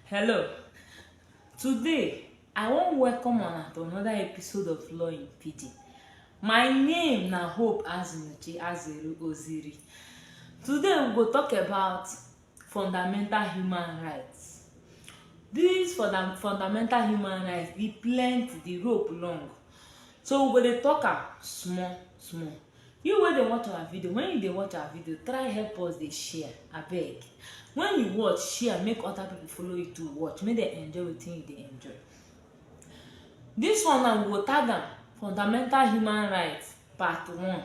Hello. Today, I wan welcome una to another episode of Law in PD. My name na Hope Azunuchi Azeru Oziri. Today, we go talk about fundamental human rights. This funda fundamental human rights, e plenty, the rope long. So, we go dey talk am small small. You wey dey watch our video, when you dey watch our video, try help us dey share, abeg. When you watch, share make other people follow you to watch, make dem enjoy wetin you dey enjoy. This one now we go tag am fundamental human rights part one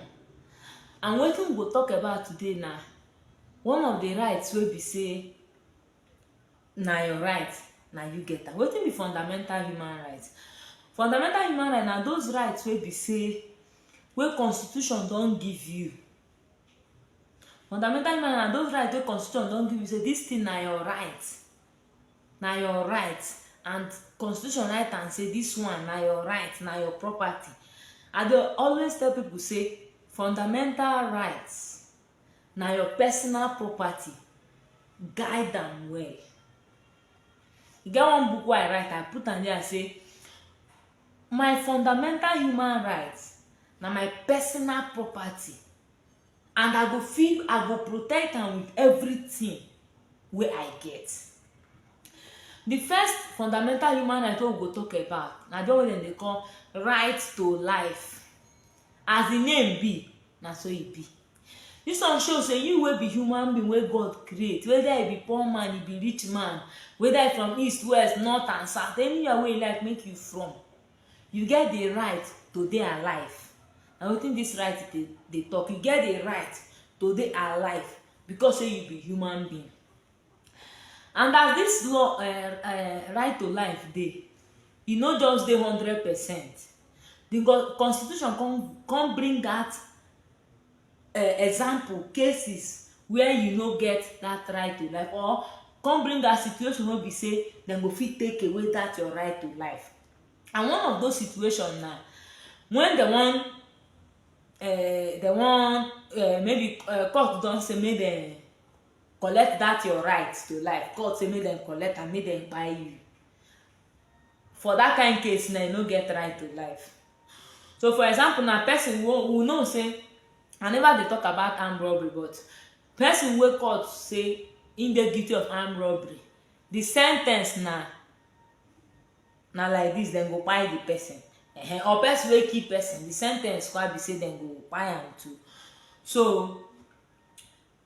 and wetin we go talk about today na one of the rights wey be say na your right na you get am wetin be fundamental human right fundamental human right na those rights wey be say wey constitution don give you fundamental human right na those rights wey constitution don give you say this thing na your right na your right and constitution write am say this one na your right na your property i dey always tell people say fundamental rights na your personal property guide am well e get one book wey i write i put am there say my fundamental human right na my personal property and i go fit i go protect am with everything wey i get the first fundamental human right wey we go talk about na the one wey dem dey call right to life as the name be na so e be this one show say you wey be human being wey god create whether e be poor man e be rich man whether e from east west north and south anywhere wey you like make you from you get the right to dey alive na wetin this right dey dey talk you get the right to dey alive because say you be human being and as this law uh, uh, right to life dey e no just dey hundred percent the constitution come come bring that uh, example cases where you no get that right to life or come bring that situation wey be say dem go fit take away that your right to life and one of those situations na when dem wan uh, dem wan uh, maybe uh, court don say make dem collect that your right to life god say make dem collect am make dem kpai you for that kind case na you no get right to life so for example na person wey we know say i never dey talk about armed robbery but person wey court say im dey guilty of armed robbery the sen ten ce na na like this dem go kpai the person uh-huh. or person wey kill person the sen ten ce kwa be say dem go kpai am too so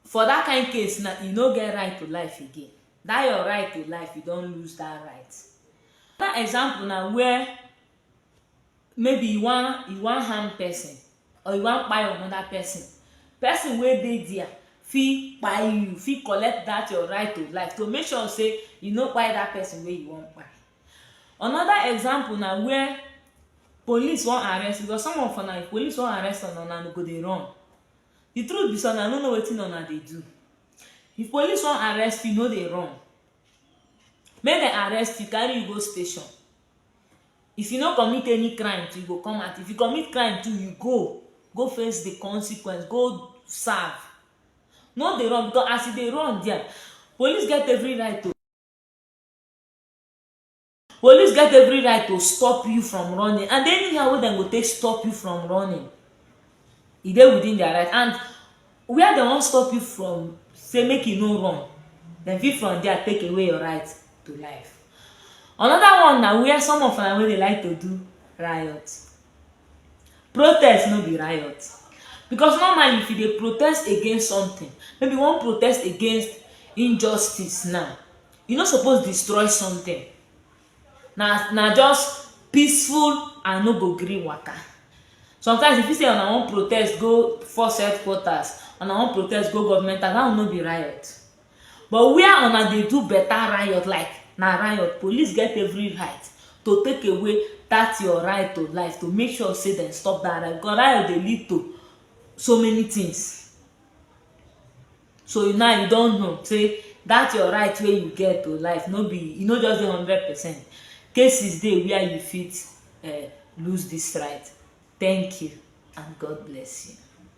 For that kind case na you no get right to life again. That your right to life, you don lose that right. Another example na where maybe you wan you wan harm person or you wan kpai another person. Person wey dey there fit kpai you, fit collect that your right to life to make sure say you no kpai that person wey you wan kpai. Another example na where police wan arrest you because some of una if police wan arrest una, una go dey run. the truth be say una no know wetin una dey do if police wan arrest you no dey run make dem arrest you carry you go station if you no commit any crime you go come out if you commit crime too you go go face the consequence go serve no dey run because as you dey run there police get every right to Police get every right to stop you from running and anyhow wey dem go take stop you from running e dey within their right and where dem wan stop you from say make you no run dem fit from there take away your right to life another one na where some of una wey dey like to do riot protest no be riot because normally if you dey protest against something maybe you wan protest against injustice now you no suppose destroy something na na just peaceful and no go gree waka sometimes if you say una wan protest go force headquarters una wan protest go government house that one no be riot but where una dey do better riot like na riot police get every right to take away that your right to life to make sure say dem stop that riot because riot dey lead to so many things so now you don know say that your right wey you get to life no be e no just dey hundred percent cases dey where you fit uh, lose this right thank you and god bless you